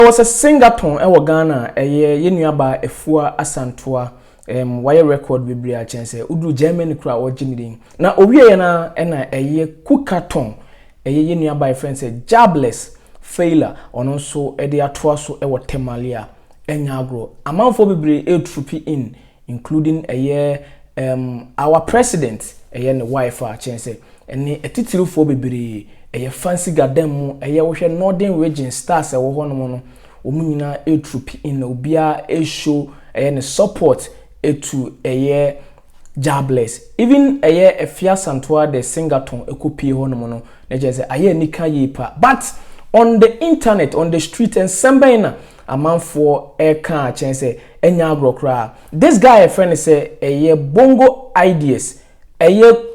Ɔwɔ sɛ Singaton wɔ Ghana a ɛyɛ yɛn nua baa Afua Asantua ɛɛm wayɛ record bebree a kyɛn sɛ woduru Germany koraa a ɔregye ne din na ɔwieɛ no ara ɛna ɛyɛ Kukaton ɛyɛ yɛn nua baa a yɛfrɛ no sɛ Jabless Failor ɔno nso ɛde atoa so ɛwɔ Tamale a ɛnyɛ agorɔ amanfoɔ bebree ɛretropi in including ɛyɛ um our president ɛyɛ ne wife a kyɛn sɛ ɛne atitirifoɔ bebree ɛyɛ fancy garden mu ɛyɛ wohwɛ northern region stars ɛwɔ hɔnom no wɔn nyinaa ɛretropi in na obiara ɛreshow ɛyɛ ne support ɛtu ɛyɛ Jah bless even ɛyɛ Afia Santoa the singaton ɛkɔpie hɔnom no na kyɛn sɛ ayɛ anika yie paa but on the internet on the street nsɛm bɛn na Amanfoɔ ɛka akyɛn sɛ ɛnyɛ agorɔ koraa. This guy yɛfrɛ no sɛ ɛyɛ bongo ideas ɛyɛ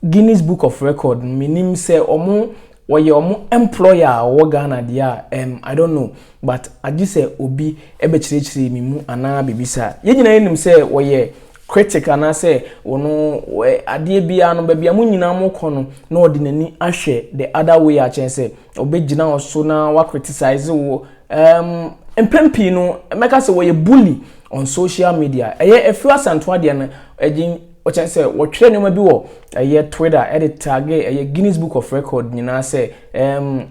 Guinness book of record no menim sɛ ɔmo ɔyɛ ɔmo employer a ɔwɔ Ghana deɛ a ɛm I don't know but agye sɛ obi ɛbɛkyerɛkyerɛ me mu anaa biribi saa. Yɛn nyinaa yɛnim sɛ ɔyɛ critic anaasɛ ɔno adeɛ biara no baabi a mo nyinaa mo kɔ no na ɔde n'ani ahwɛ the other way akyɛn sɛ Wɔbɛgyina wo so na wa criticize wo. Um, mpɛn pii no, mɛka sɛ wɔyɛ bully on social media. Ɛyɛ afiri asantoa deɛ no, ɛgye ɔkyɛn sɛ wɔtwerɛ nneɛma bi wɔ ɛyɛ Twitter ɛde tage ɛyɛ Guinness Book of Record nyinaa sɛ um,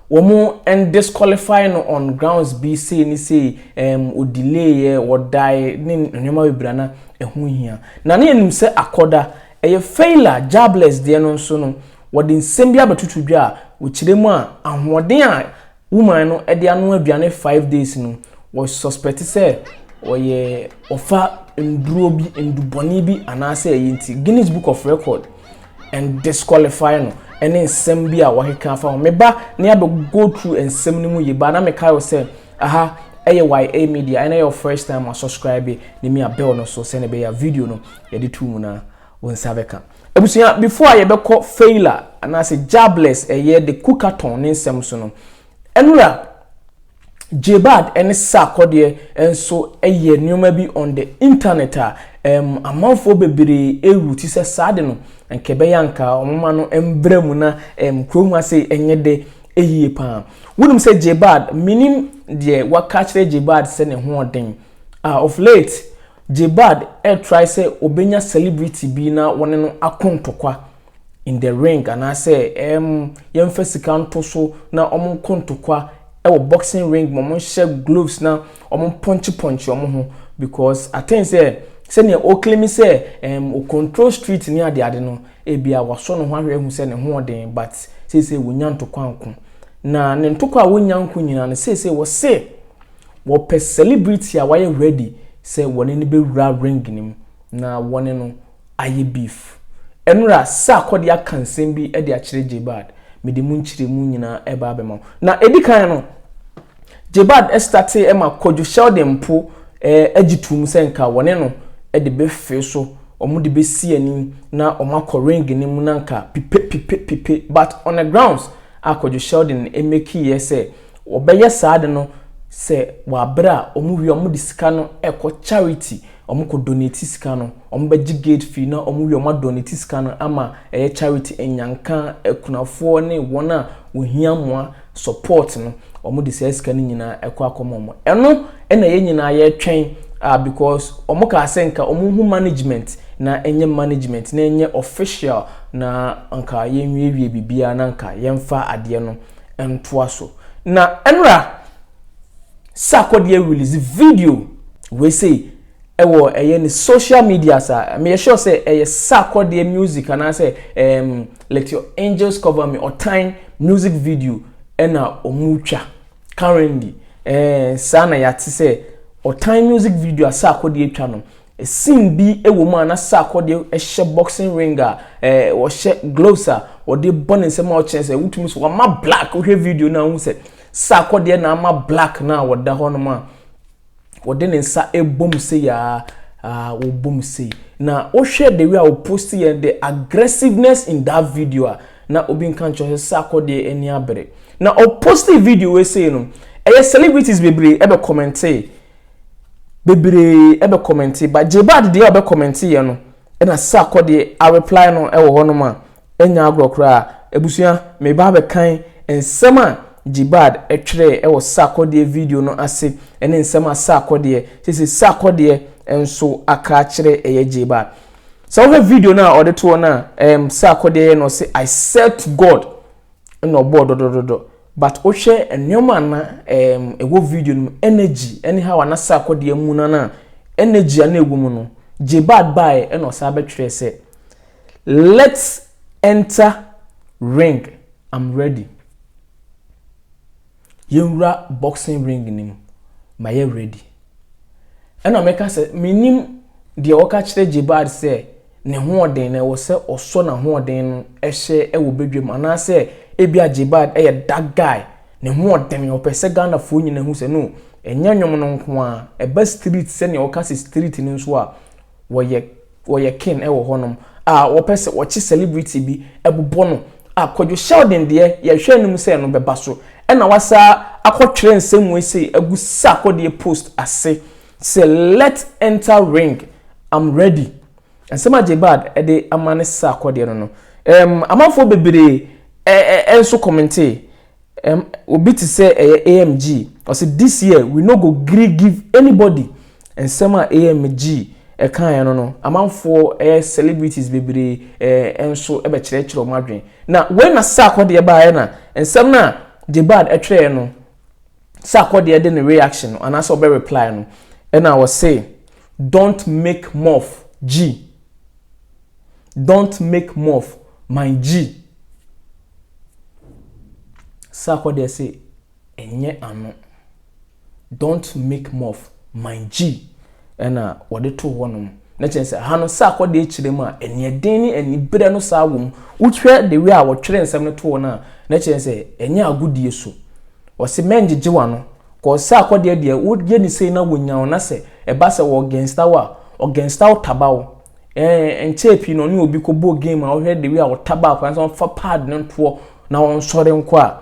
wɔn disqualify no on grounds bi sei ne sei um, ɔdileeɛ, wɔdae ne nneɛma bebree na ɛho hia. Na ne yɛnim sɛ akɔda Ɛyɛ Faila Jabless deɛ no nso no, wɔde nsɛm bi abɛtoto dwa a wɔkyerɛ mu a ahoɔden a woman no de anoa aduane five days no, wɔ suspect sɛ ɔyɛ ɔfa nnuro bi, nnubɔne bi anaasɛ ɛyi nti Guinness Book of Record and disqualify no ɛne nsɛm bi a wɔakeka afa ho. Me ba ne abɛ go through nsɛm no mu yie ba na mekae wo sɛ aha ɛyɛ YA Media ɛna ɛyɛ wo first time a subscribe ne me a bell no so sɛne ɛbɛyɛ a video no Yɛde too mu na wo nsa bɛka. Abusua, before a yɛbɛkɔ Feyla anaasɛ Jabless ɛyɛ the Kukaton ne nsɛm so no, Ɛnora, Jebad ne Sarkodie nso yɛ nnoɔma bi on the internet a ɛɛm amanfoɔ bebree ɛrewu ti sɛ saa de no anka ɛbɛyɛ anka wɔn ma no mbra mu na ɛɛm kurom ha sei ɛnyɛ dɛ ɛyie paa. Wonim sɛ Jebad, menim deɛ waka akyerɛ Jebad sɛ ne ho ɔden a of late Jebad ɛretrae sɛ ɔbɛnya celebrity bi na wɔne no ako ntɔkwa in the ring anaasɛ ɛɛm yɛmfa sika nto so na wɔn nko ntɔkwa ɛwɔ boxing ring ma wɔn nhyɛ gloves na wɔn pɔnkye pɔnkye wɔn ho because atɛn sɛ sɛnea ɔklemi sɛ ɛɛm o control street ne ade ade no ebia wasɔ ne ho ahwɛ ahu sɛ ne ho ɔden but seesei wɔnya ntɔkwa nko na ne ntɔkwa a wɔnya nko nyinaa no seesei wɔse Wɔpɛ celebrity a wayɛ ready sɛ wɔne no bɛwura ring no mu na wɔne no ayɛ beef. Ɛnora Sarkor de aka nsɛm bi de akyerɛ Jebad. Mede mu nkyerɛmu nyinaa ɛba abɛma wo. Na ɛdi kan no, Jebad startee ɛma Kwadwo Sheldon mpo agye toom sɛ nka wɔne no de bɛfee so, wɔn de bɛsi ani na wɔn akɔ ring no mu na nka pipe pipe pipe but on the grounds a Kwadwo Sheldon makeeɛ sɛ Wɔbɛyɛ saa ade no sɛ wɔ aberɛ a wɔn wie a wɔn de sika no rekɔ charity, wɔn kɔ donate sika no, wɔn bɛgye gate fee na wɔn wie a wɔn a donate sika no ama ɛyɛ charity anyanka, akunafoɔ ne wɔn a wɔhia mmoa, support, no, wɔn de saa sika no nyinaa ɛkɔ akɔma wɔn. Ɛno na yɛn nyinaa yɛretwɛn a because wɔn kaa sɛ nka wɔn hu management na ɛnyɛ management na ɛnyɛ official na nka yɛnwiewie biribiara na nka yɛmfa adeɛ no ntoa so na ɛnora sakɔde release video wei sei ɛwɔ ɛyɛ ne social media sa me yɛ sure sɛ ɛyɛ sakɔde music anaasɛ um, let your angels cover me ɔtan music video ɛna ɔmo twa currently ɛɛ eh, saa na yɛate sɛ ɔtan music video a sakɔde atwa no Scene bi wɔ mu a na Sarkodie hyɛ boxing ring a ɔhyɛ gloves a ɔde bɔ ne nsam a ɔkyerɛ sɛ wotumi so wama black wohwɛ video no a wohu sɛ Sarkodie na ama black no a ɔda hɔ nom a ɔde ne nsa bom sei a wɔbom sei na wohwɛ the way a wɔpost yɛ the aggressiveness in that video a na obi nka nkyerɛ sɛ Sarkodie ani abere na ɔpost video wei sei no ɛyɛ celebrities bebree ɛbɛ kɔmɛntee bebree ɛbɛ kɔmɛnte but Jbad deɛ ɔbɛ kɔmɛnte yɛ no ɛna Sarkɔ deɛ a reply no ɛwɔ hɔ nom a ɛnyɛ agorɔ koraa abusua me ba abɛ kan nsɛm a Jbad ɛtwerɛɛ ɛwɔ Sarkɔ deɛ video no ase ɛne nsɛm a Sarkɔ deɛ sese Sarkɔ deɛ nso aka akyerɛ ɛyɛ Jbad sɛ wohwɛ video no a ɔde toɔ no a ɛɛm Sarkɔ deɛ yɛ na ɔse I served God ɛna ɔbɔɔ dɔdɔdɔdɔ But wo hwɛ nneɛma a na ehm ɛwɔ video no mu energy ɛne how a na Sarko de amu no na energy a na ɛwɔ mu no Jbad baeɛ ɛna ɔsan bɛtwerɛɛ sɛ let's enter ring I'm ready yɛnwura boxing ring no mu mayɛ ready ɛna meka sɛ menim deɛ ɔka kyerɛ Jbad sɛ n'ahoɔden na ɛwɔ sɛ ɔsɔ n'ahoɔden no hyɛ wɔ badwam anaasɛ ebia Jebad yɛ dark guy ne ho ɔden ɔpɛ sɛ Ghanafoɔ nyinaa hu sɛ no ɛnyɛ nnwom no nko ara ɛba street sɛnea wɔka sɛ street no nso a wɔyɛ wɔyɛ king wɔ hɔnom a wɔpɛ sɛ wɔkye celebrity bi bobɔ no a Kwadwo Sheldon deɛ yɛhwɛ anim sɛ no bɛba so ɛna wasa akɔtwerɛ nsɛm wei sei agu Sarkodie post ase Sɛ let enter ring am ready nsɛm a Jebad de ama ne sesa akɔdeɛ no no um, amanfoɔ bebree ɛ ɛ ɛ nso kɔmentee um, obi te sɛ ɛyɛ AMG ɔse this year we no go gree give anybody nsɛm a AMG kaeɛ no no amanfoɔ ɛ ɛ celebrities bebree ɛ ɛ nso bɛkyerɛkyerɛ wɔn adwene na wei na sesa akɔdeɛ baeɛ na nsɛm no a Jebad twerɛeɛ no sɛ akɔdeɛ de ne reaction no anaasɛ ɔbɛ reply no ɛna ɔse don't make mof G don't make mof my G sɛ akɔdeɛ se ɛnyɛ ano don't make mof my G Ɛna wɔde too hɔnom. Na kyerɛ sɛ, ha no, sɛ akɔdeɛ kyerɛ mu a, aniɛden ne aniberɛ no saa wɔ mu. Wohwɛ the way a wɔtwerɛ nsɛm no too no a, na kyerɛ sɛ, ɛnyɛ agodie so. Wɔse, mɛngyegye w'ano. Cause sɛ akɔdeɛ deɛ, woyɛ no sei na wɔnya wo, na sɛ ɛba sɛ ɔgɛnsta wo a, ɔgɛnsta wo taba wo. Ɛɛ, ɛnkyɛɛ pii na ɔne obi kɔbɔɔ game a, wohwɛ the way a ɔtabaa akwadaa no sɛ ɔmfa pad no ntoɔ na ɔnsɔre nkɔ a,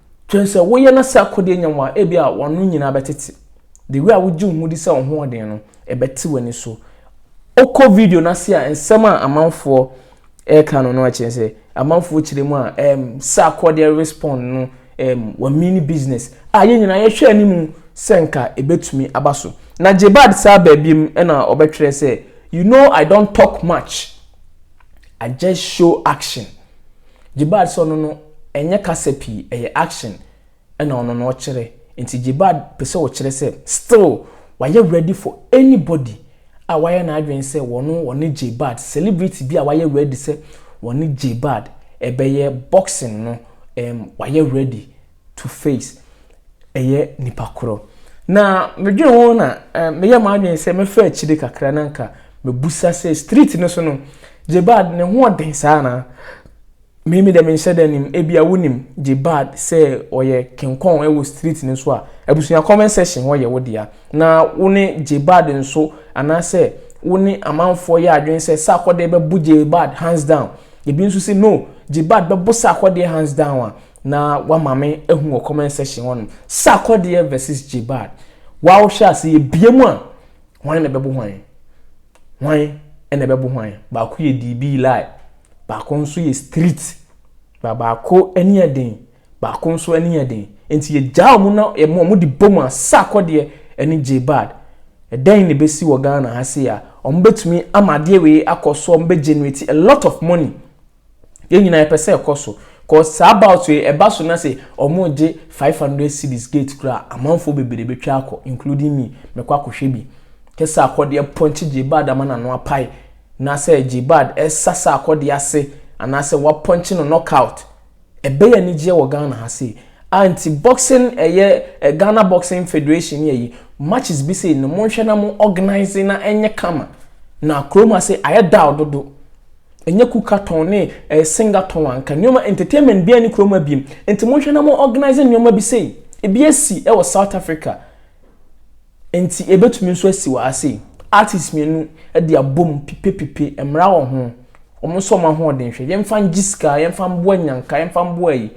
Kyerɛ sɛ woyɛ na sɛ akodeɛ nya wo a, ebi a w'ano nyinaa bɛtete. The way a wogye wo ho di sɛ wo ho ɔden no, ɛbɛte w'ani so. Wokɔ video no ase a, nsɛm a amanfoɔ ɛreka no no ɛkyerɛ sɛ amanfoɔ kyerɛ mu a um, sɛ akodeɛ respond no um, wamini business a yɛn nyinaa yɛhwɛ anim sɛ nka ɛbɛtumi aba so. Na Jebad saa baabi mu ɛna ɔbɛtwerɛ sɛ, you know I don't talk much, I just show action. Jibad sɛ ɔno no ɛnyɛ kasa pii ɛyɛ action ɛna ɔno no ɔkyerɛ nti Jibad pɛsɛ ɔkyerɛ sɛ still wayɛ ready for anybody a wayɛ n'adwene sɛ wɔno wɔne Jibad celebrity bi a wayɛ ready sɛ wɔne Jibad ɛbɛyɛ boxing no ɛm wayɛ ready to face ɛyɛ nipa korɔ. Na me dwen ho na me yɛ m'adwen sɛ mɛfa akyire kakra na nka me busa sɛ street no so no Jebad ne ho ɔden saa anaa? Me me deɛ me nhyɛ da nim ebi a wonim Jebad sɛ ɔyɛ kenkɔn ɛwɔ street no so a abusua comment section hɔ yɛ wo dea na wo ne Jebad nso anaasɛ wo ne amanfoɔ yɛ adwen sɛ Sarkodie bɛbo Jebad hands down ebi nso sɛ no Jebad bɛbo Sarkodie hands down a Na wama me ahu wɔ comment section hɔ nom. Sarkodie versus Jbad. Wa wo hwɛ ase yɛ bie mu a. Hwan na ɛbɛbo hwan? Hwan na ɛbɛbo hwan? Baako yɛ DB lie. Baako nso yɛ street. Ba baako ani yɛ den. Baako nso ani yɛ den. Nti yɛ gyaa ɔmo na yɛ mo ɔmo de bom a Sarkodie ɛne Jbad. Ɛdɛn na ɛbɛsi wɔ Ghana ha sei a ɔmo bɛtumi ama adeɛ wei akɔ so ɔmo bɛ generate a lot of money Yɛn nyinaa yɛpɛ sɛ ɛkɔ so cos saa bout yi ɛba so na sɛ wɔregye five hundred cedis gate koraa amanfoɔ bebree bɛtwa akɔ including me mɛkɔ akɔhwɛ bi kyɛ sɛ akɔdeɛ pɔnkye Jbad ama n'ano apae na sɛ Jbad ɛsa sɛ akɔdeɛ ase anaasɛ wapɔnkye no knockout ɛbɛyɛ anigyeɛ wɔ Ghana ha sei a nti boxing ɛyɛ Ghana Boxing Federation ne ayi matches bi sei no monhwɛ na mo organize na ɛnyɛ kama na kurom ase ayɛ dull dodo. Ɛnyɛ kuka tɔn ne ɛɛ singa tɔn anka nneɛma entertainment biara ni kurom ha biem nti monhwɛ na mo organise nneɛma bi sei ebi asi ɛwɔ south Africa nti ebetumi nso asi wɔ ha sei artist mmienu ɛde abom pipe pipe mmra wɔ ho wɔn nso wɔn ahoɔden hwɛ yɛnfa ngye sika yɛnfa mboa nyanka yɛnfa mboa yi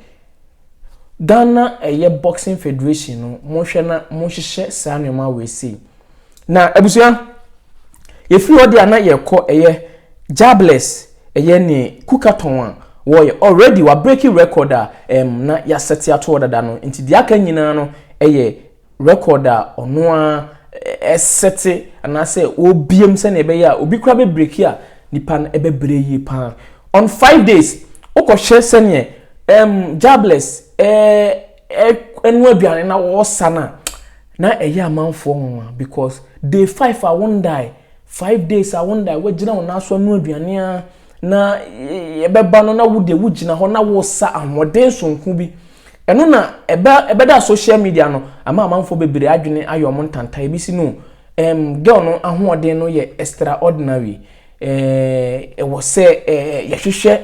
Ghana ɛyɛ boxing federation no monhwɛ na monhyehyɛ saa nneɛma wɔ sei. Na abusua, yɛfiri hɔ deɛ a na yɛrekɔ ɛyɛ Jabless, ɛyɛ ne Kukatɔn a wɔyɛ already wa breaking record a ɛm na yɛasɛte atoɔ dada no nti deɛ aka nyinaa no ɛyɛ record a ɔno a ɛsɛte anaasɛ wɔbiem sɛnea ɛbɛyɛ a obi kora bɛbreki a nipa no ɛbɛbrɛ yie paa on five days wokɔhwɛ sɛneɛ um, Jabless eh, ɛnoa aduane na wɔsa no a, na ɛyɛ amanfoɔ nwanwa because day five a wondae, five days a wondae, woagyina wo nan so anoa aduane a na ɛbɛba no na wo deɛ wogyina hɔ na wosa ahoɔden sonko bi. Ɛno na ɛbɛ ɛbɛda social media no ama amanfoɔ bebree adwene ayɛ wɔn ntanta ebi si no ɛm girl no ahoɔden no yɛ extraordinary ɛɛ ɛwɔ sɛ ɛɛ yɛhwehwɛ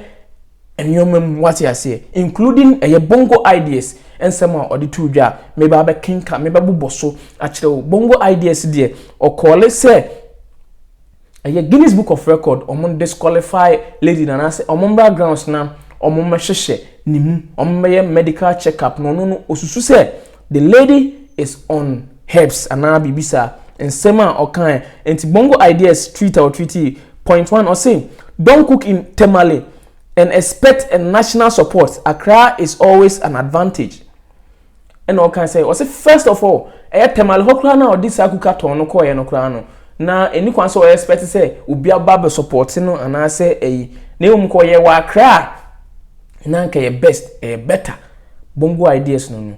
nneɛma mu, wate aseɛ, including ɛyɛ bongo ideas nsɛm a ɔde too dwa a meba abɛkenka mebɛbobɔ so akyerɛ wo bongo ideas deɛ ɔkɔɔle sɛ ɛyɛ Guinness Book of Record wɔn disqualify lady na anaasɛ wɔn mmra grounds na wɔn mmɛhyehyɛ ne mu wɔn mmɛyɛ medical check up na ɔno no osusu sɛ The lady is on herbs anaa biribi saa. Nsɛm a ɔkae. Nti Bongo Ideas tweet a ɔtweetee, point one, ɔse, Don't cook in Tamale and expect a national support, Accra is always an advantage. Ɛna ɔkae sɛ, ɔse first of all, ɛyɛ Tamale hɔ koraa na ɔde saa kuka tɔn no kɔeɛ no koraa no, na ɛni kwan sɛ ɔyɛ expect sɛ obi aba bɛ support no anaasɛ ɛyi. Na mmom kɔ ɔyɛ wɔ Accra a, na anka ɛyɛ best, ɛyɛ better. Bongo ideas no no,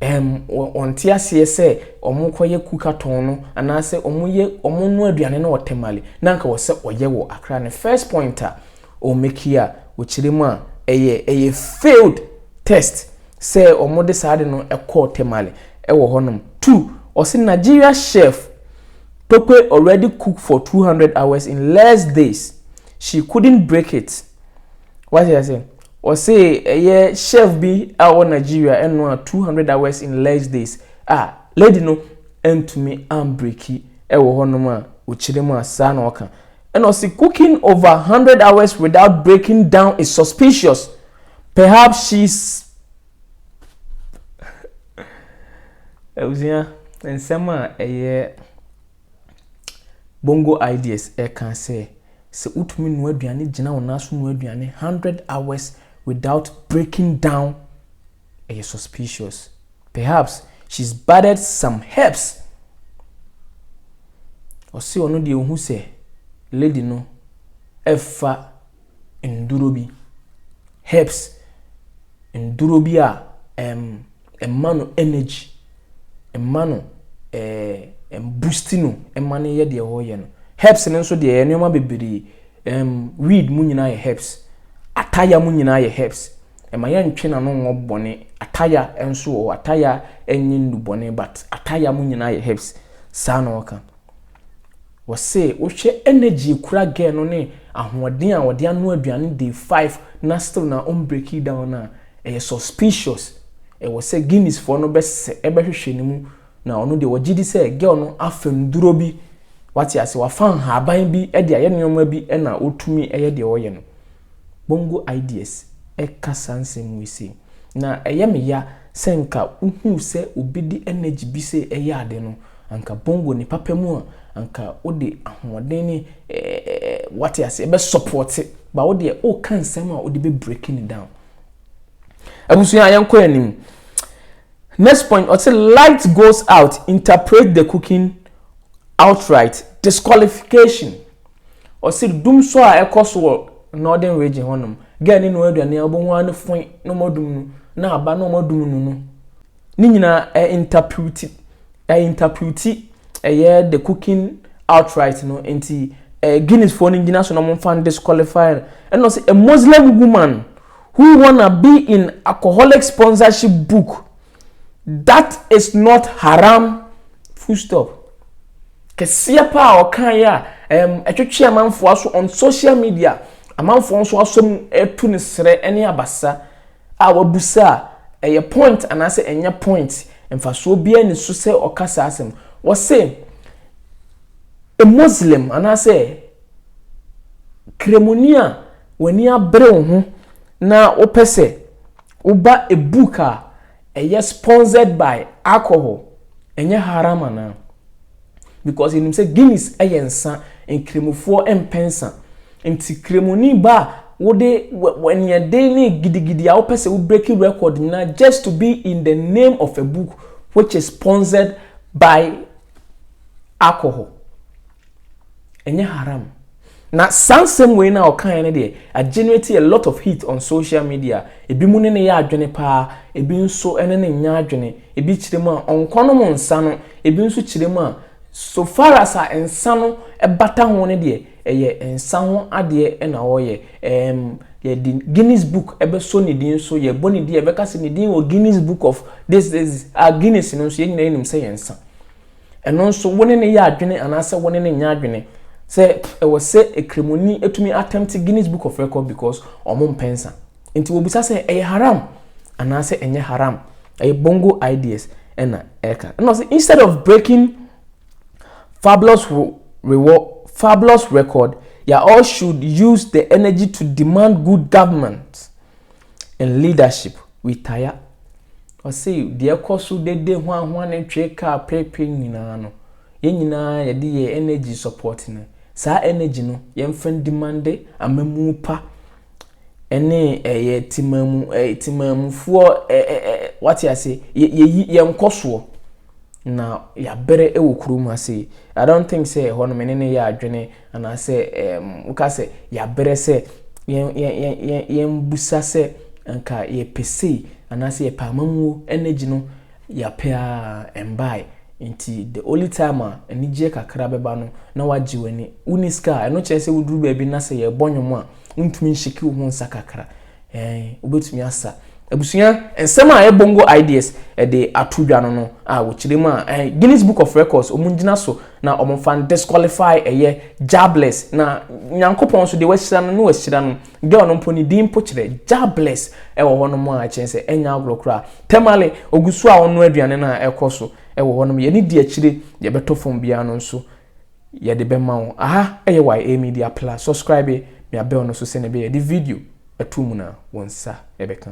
ɛɛm, wɔnte aseɛ sɛ wɔkɔyɛ kuka tɔn no anaasɛ wɔyɛ wɔnoa aduane no wɔ Tamale na anka wɔ sɛ wɔyɛ wɔ Accra no first point a ɔ make yi a ɔkyerɛ mu a ɛyɛ ɛyɛ failed test sɛ wɔde saa ade no kɔɔ Tamale wɔ hɔnom two ɔse Nigeria chef Tope already cook for 200 hours in less days she couldn't break it. Wate ase? Ɔse ɛyɛ chef bi a ɔwɔ Nigeria ɛno a 200 hours in less days a lady no ɛntumi ambreki ɛwɔ hɔ nom a ɔkyerɛ mu a saa na ɔka ɛna ɔse cooking over 100 hours without breaking down is suspicious perhaps she's abusua nsɛm a ɛyɛ Bongo Ideas ɛka sɛ, Sɛ wotumi noa aduane gyina wo nan so noa aduane hundred hours without breaking down, ɛyɛ suspicious. Perhaps she's battered some herbs. Ɔse ɔno deɛ ohu sɛ lady no ɛfa nduro bi, herbs, nduro bi a ɛm. Um, ɛma no energy, ɛma no ɛɛ ɛboosti no, ɛma no yɛ deɛ ɔreyɛ no. Herbs no nso deɛ yɛ nneɛma bebree, ɛɛm weed mu nyinaa yɛ herbs, ataya mu nyinaa yɛ herbs. Ɛma yɛntwe n'ano ngɔ bɔne. Ataya nso wɔ hɔ, ataya ɛnyɛ nnubɔne but ataya mu nyinaa yɛ herbs. Saa na ɔka. Wɔse wohwɛ energy ekura girl no ne ahoɔden a ɔde anoa aduane day five na still na ɔn breaki down no a, ɛyɛ suspicious. Ɛwɔ sɛ Guinness foɔ no bɛsɛ bɛhwehwɛ ne mu na ɔno deɛ ɔgye di sɛ girl no afa nnuro bi, wate ase, wafa nhaaban bi de ayɛ nnoɔma bi na ɔtumi yɛ deɛ ɔyɛ no. Bongo Ideas ka saa nsɛm wei sei. Na ɛyɛ me ya sɛ nka wohuu sɛ obi de energy bi sɛ ɛyɛ ade no, anka Bongo ne papa mu a, anka wode ahoɔden ne ɛɛ wate aseɛ bɛ support ba wo deɛ woka nsɛm a wode bɛ break ne down. Abusua yɛnkɔ yɛn anim. Next point, ɔte light goes out, interpret the cooking outright, disqualification. Ɔse dum sɔ a ɛkɔ so wɔ Northern Region hɔ nom, gɛɛ ne noa aduane a wobɛhu ara ne foe na ɔma dum no, na aba na ɔma dum no no. Ne nyinaa ɛ interpreti, ɛ interpreti ɛyɛ the cooking outright no, nti ɛ Guinness foɔ no gyina so na wɔmfa no disqualify no. Ɛna ɔse a Muslim woman who wanna be in alcoholic sponsorship book. That is not haram full stop. Kɛseɛ paa ɔkaeɛ a ɛm ɛtwetwe amanfoɔ aso on social media amanfoɔ nso asɔ mu ɛtu ne serɛ ɛne abasa a wabusa a ɛyɛ point anaasɛ ɛnyɛ point mfasoɔ biara ni so sɛ ɔka saa asɛm wɔse a Muslim anaasɛ kremoni a w'ani abere wo ho na wopɛ sɛ Woba a book a ɛyɛ sponsored by alcohol ɛnyɛ haram anaa? Because yɛnim sɛ Guinness yɛ nsa, nkramofoɔ mpɛ nsa. Nti kramoni ba a wode w'aniɛden ne gidigidi a wopɛ sɛ wo breaki record nyinaa just to be in the name of a book which is sponsored by alcohol. Ɛnyɛ haram. Na saa nsɛm wei no a ɔkaeɛ no deɛ, agenerate a lot of heat on social media. Ebi mu ne no yɛ adwene pa ara, ebi nso ne no nyɛ adwene. Ebi kyerɛ mu a, ɔnkɔnom nsa no, ebi nso kyerɛ mu a, so far as a nsa no bata ho no deɛ, ɛyɛ nsa ho adeɛ na ɔreyɛ. Ɛɛm, yɛde Guinness book bɛsɔ ne din so, yɛbɔ ne din, yɛbɛka sɛ ne din wɔ Guinness book of this, this, this. Ah, Guinness no nso yɛn nyinaa nim sɛ ɛyɛ nsa. Ɛno nso, wo ne no yɛ adwene anaasɛ wo ne no nyɛ adwene sɛ ɛwɔ sɛ ekramoni atumi attempt Guinness Book of Record because wɔn mpɛnsa. Nti wɔbisa sɛ ɛyɛ haram anaasɛ ɛnyɛ haram. Ɛyɛ bongo ideas ɛna ɛka. Ɛna ɔsɛ instead of breaking fabulous reward fabulous record, you all should use the energy to demand good government. and leadership retire. Ɔse deɛ ɛkɔ so dede hwanhwa ne twere kaa prepre nyinaa no, yɛn nyinaa yɛde yɛn energy support no. Saa energy no, yɛmfa ndimande amammuo pa ne ɛyɛ temamu ɛyɛ temamufoɔ ɛ ɛ ɛ wate ase yɛ yɛyi yɛn nkɔsoɔ na yɛabrɛ wɔ kurom ha sei. I don't think sɛ ɛhɔ no me ne no yɛ adwene Anaasɛ woka sɛ, Yɛabrɛ sɛ yɛmmisa sɛ anka yɛpɛ sei anaasɛ yɛpɛ amammuo energy no yɛapɛ ara ɛmbae nti the only time a anigyeɛ kakra bɛba no na wagye w'ani. Wonni sika a ɛno kyerɛ sɛ woduru baabi na sɛ yɛrebɔ nnwom a wontumi nhyeke wo ho nsa kakra. Ɛɛn, wobɛtumi asa. Abusua, nsɛm a Ebongo Ideas de ato dwa no no a wɔkyerɛ mu a, ɛɛn, Guinness Book of Records, wɔn ngyina so na wɔn mfa n-disqualify ɛyɛ Jabless. Na Nyankopɔn nso deɛ wahyira no na wahyira no. Girl no mpo ne din mpo kyerɛ Jabless wɔ hɔ nom a kyerɛ sɛ ɛnyɛ agorɔ koraa. Tamale, ɔgu so a ɔnoa aduane no a ɛkɔ so wɔ hɔ nom. Yɛne di akyire, deɛ ɛbɛtɔ fam biara no nso yɛde bɛma wo aha ɛyɛ YA media plus subscribe mea bell no so sɛnea ɛbɛyɛ yɛde video ɛto mu na wo nsa ɛbɛka.